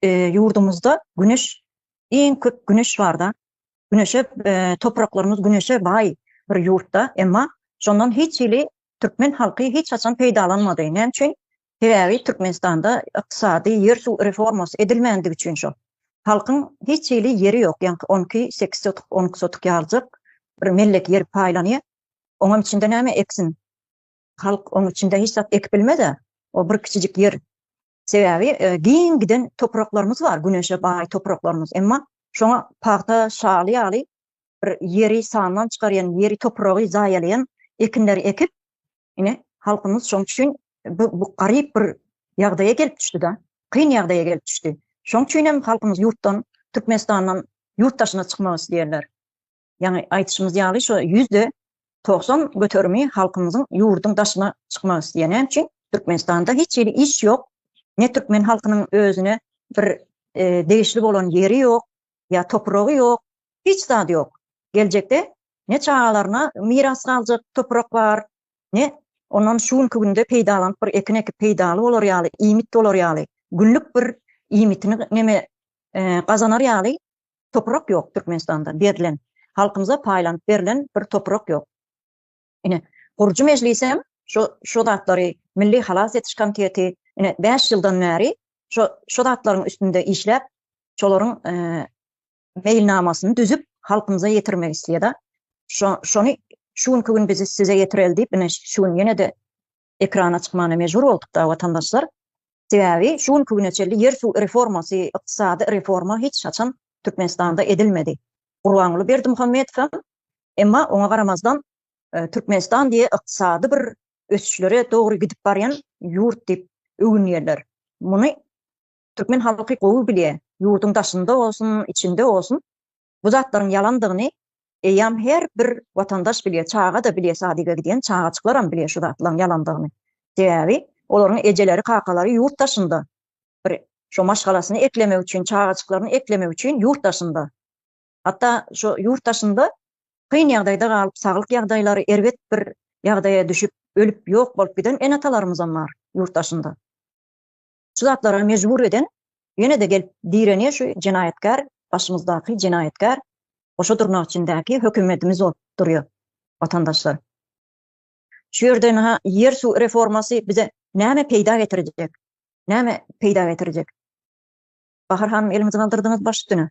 Ýurdumyzda güneş, iň köp güneş barda, güneşe topraklarymyz güneşe baý bir ýurtda, emma şondan hiç hili türkmen halky hiç haçan peýdalanmady. Näme üçin? Sebäbi Türkmenistanda ykdysady, ýer-suw reformasy edilmänligi üçin şo. Halkyň hiç hili ýeri ýok, ýaňky on iki, sekiz sotuk, on iki sotuk ýaljak bir mellek ýer paýlanýar. Oňam içinde näme eksin? Halk oň içinde hiç zat ekip bilmez-ä. O bir kiçijik ýer Sebäbi giň giden topraklarymyz bar, güneşe baý topraklarymyz. Emma şoňa pagta şaly ýaly bir ýeri sandan çykarýan, ýeri topragy zaýalaýan ekinleri ekip, ine, halkymyz şoň üçin bu garyp bir ýagdaýa gelip düşdi-de, kyn ýagdaýa gelip düşdi. Şoň üçin hem halkymyz ýurtdan, Türkmenistandan ýurt daşyna çykmak isleýärler. Ýagny aýdyşymyz ýaly şu ýüzde togsan göterimi halkymyzyň ýurduň daşyna çykmak isleýär. Näme üçin? Türkmenistanda hiç hili iş ýok. Ne türkmen halkynyň özüne bir degişli bolan ýeri ýok, ýa topragy ýok, hiç zady ýok. Geljekde ne çagalaryna miras galjak toprak bar, ne ondan şu günki günde peýdalanyp bir ekin ekip peýdaly bolar ýaly, iýmit bolar ýaly, günlük bir iýmitini neme gazanar ýaly Toprak ýok Türkmenistanda berlen, halkymyza paýlanyp berlen bir toprak ýok. Ine, gurujy mejlisem şo şo zatlary Milli halas etiş komiteti ine bäş ýyldan bäri şo şo zatlaryň üstünde işläp, şolaryň meýilnamasyny düzüp halkymyza ýetirmek isleýär-de. Şo şony şu günki gün biz size ýetireli diýip ine şu gün ýene-de ekrana çykmana mejbur boldukda watandaşlar sebäbi şu günki güne çelli ýer suw reformasy ykdysady reforma hiç haçan Türkmenistanda edilmedi Gurbanguly Berdimuhamedow emma oňa garamazdan Türkmenistan diýe ykdysady bir ösüşlere dogry gidip barýan ýurt diýip öwünýärler muny Türkmen halky gowy bilýär ýurduň daşynda bolsun içinde bolsun Bu zatlaryň ýalandygyny eýýäm her bir watandaş bilýär, çaga-da bilýär, sadige gidýän çagajyklaram bilýär şu zatlaryň ýalandygyny. Sebäbi olaryň ejeleri, kakalary ýurt daşynda. Bir şo maşgalasyny eklemek üçin, çagajyklaryny eklemek üçin ýurt daşynda. Hatda şo ýurt daşynda kyn ýagdaýda galyp, saglyk ýagdaýlary erbet bir ýagdaýa düşüp, ölüp ýok bolup giden ene-atalarymyzam bar ýurt daşynda. Şu zatlara mejbur eden ýene-de gelip direnýär şu jenaýatkär başymyzdaky jenaýatkär goşa durnak içindäki hökümedimiz bolup durýar watandaşlar. Şu ýerde naha ýer suw reformasy bize näme peýda getirjek? Näme peýda getirjek? Bahar hanym elimizi galdyrdyňyz baş üstüne.